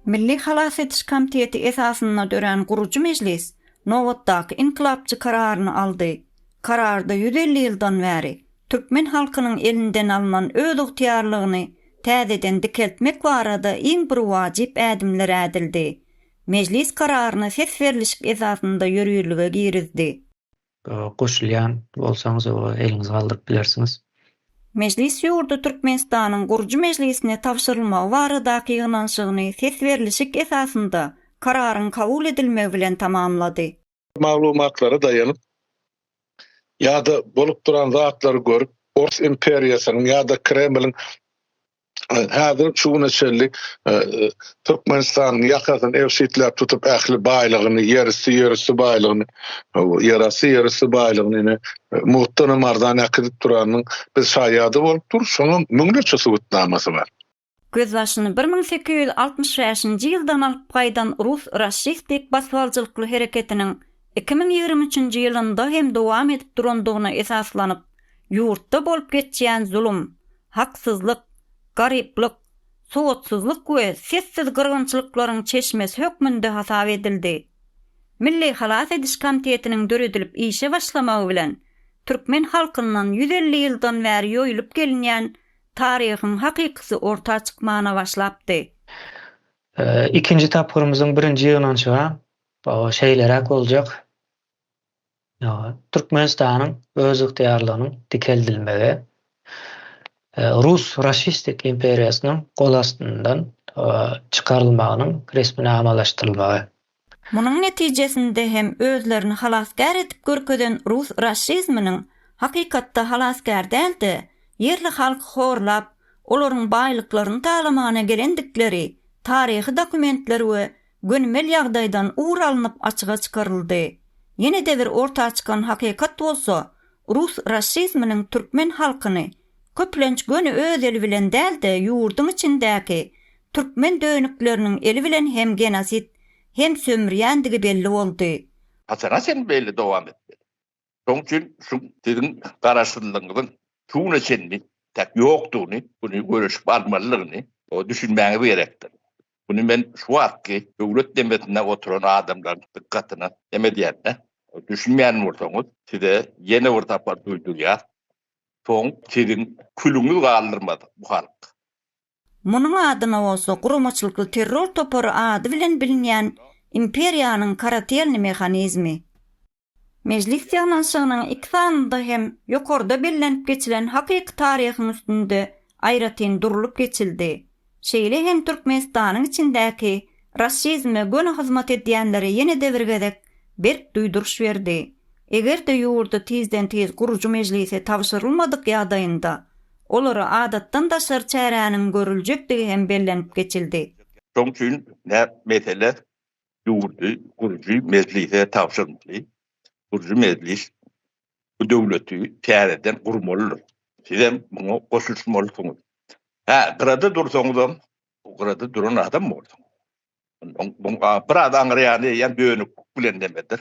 Milli halas ediş komiteti esasynda dörän gurujy mejlis nobatdaky inkylapçy kararyny aldy. Kararda ýüz elli ýyldan bäri türkmen halkynyň elinden alnan özygtyýarlygyny täzeden dikeltmek barada iň bir wajyp ädimler ädildi. Mejlis kararyny ses berlişik esasynda ýörürlige girizdi. Goşulýan bolsaňyz oňa eliňizi galdyryp bilersiňiz. Mejlis ýurdy Türkmenistanyň gurujy mejlisine tabşyrylmagy baradaky ýygnanyşygyny ses berlişik esasynda kararyň kabul edilmegi bilen tamamlady. Maglumatlara daýanyp ýa-da bolup duran zatlary görüp, Ors imperiýasynyň ýa-da Kremliň häzir şu güne çenli e, e, Türkmenistanyň ýakasyny ebşitläp tutup ähli baýlygyny, ýerüsti ýerüsti baýlygyny, ýerasty ýerüsti baýlygyny ine muhtan hem arzan äkidip duranyň biz şaýady bolup dur, şoňa müňlerçe subutnamasy bar. Gözbaşyny bir müň sekiz ýüz altmyş bäşinji ýyldan alyp gaýdan rus raşistik basybaljylykly hereketiniň iki müň ýigrimi üçünji ýylynda hem dowam edip durandygyna esaslanyp, ýurtda bolup geçýän zulum, haksyzlyk, garyplyk, sowatsyzlyk we sessiz gyrgynçylyklaryň çeşmesi hökmünde hasap edildi. Milli halas ediş komitetiniň döredilip işe başlamagy bilen türkmen halkyndan ýüz elli ýyldan bäri ýoýulyp gelinýän taryhyň hakykysy orta çykmana başlapdy. Ikinji tapgyrymyzyň birinji ýygnanyşyga şeýleräk boljak. Türkmenistanyň özygtyýarlygynyň dikeldilmegi rus raşistik imperiýasynyň gol astyndan çykarylmagynyň resminamalaşdyrylmagy. Munuň netijesinde hem özlerini halasgär edip görkezen rus raşizminiň hakykatda halasgär däl-de, ýerli halky horlap, olaryň baýlyklaryny talamana gelendikleri taryhy dokumentler we gönümel ýagdaýdan ugur alnyp açyga çykaryldy. Ýene-de bir orta çykan hakykat bolsa, rus raşizminiň türkmen halkyny köplenç göni öz eli bilen däl-de ýurduň içindäki türkmen dönükleriniň eli bilen hem genosid, hem sömürýändigi belli boldy. Haçana çenli beýle dowam etmeli? Şonuň üçin şu siziň garaşsyzlygyňyzyň şu güne çenli täk ýokdugyny, muny göreşip almalydygyny düşünmäňiz gerekdir. Muny men şu wagtky döwlet demesinde oturan adamlaryň dykgatyna näme edýän-ä? Düşünmeýän bolsaňyz, size ýene bir sapar duýdurýas. Soň siziň külüňiz galdyrmaz bu halk. Munuň adyna bolsa guramaçylykly terror topary ady bilen bilinýän imperiýanyň karatelni mehanizmi. Mejlis ýygnanyşygynyň iki sanynda hem ýokarda bellenip geçilen hakyky taryhyň üstünde aýratyn durlup geçildi. Şeýle hem Türkmenistanyň içindäki raşizme göni hyzmat edýänlere ýene-de bir gezek berk duýduryş berdi. Eger-de ýurda tizden-tiz gurujy mejlise tabşyrylmadyk ýagdaýynda Olara adatdan daşary çäräniň görüljekdigi hem bellenip geçildi. Şoň üçin näp mesele ýurdy gurujy mejlise tabşyrmaly. Gurujy mejlis bu döwleti täzeden gurmalydyr. Sizem muňa goşulyşmalysyňyz. Hä, gyrada dursaňyzam, bu gyrada duran adam bolsaňyz. Muň biraz aňryýany eýýäm dönüklik bilen nemedir.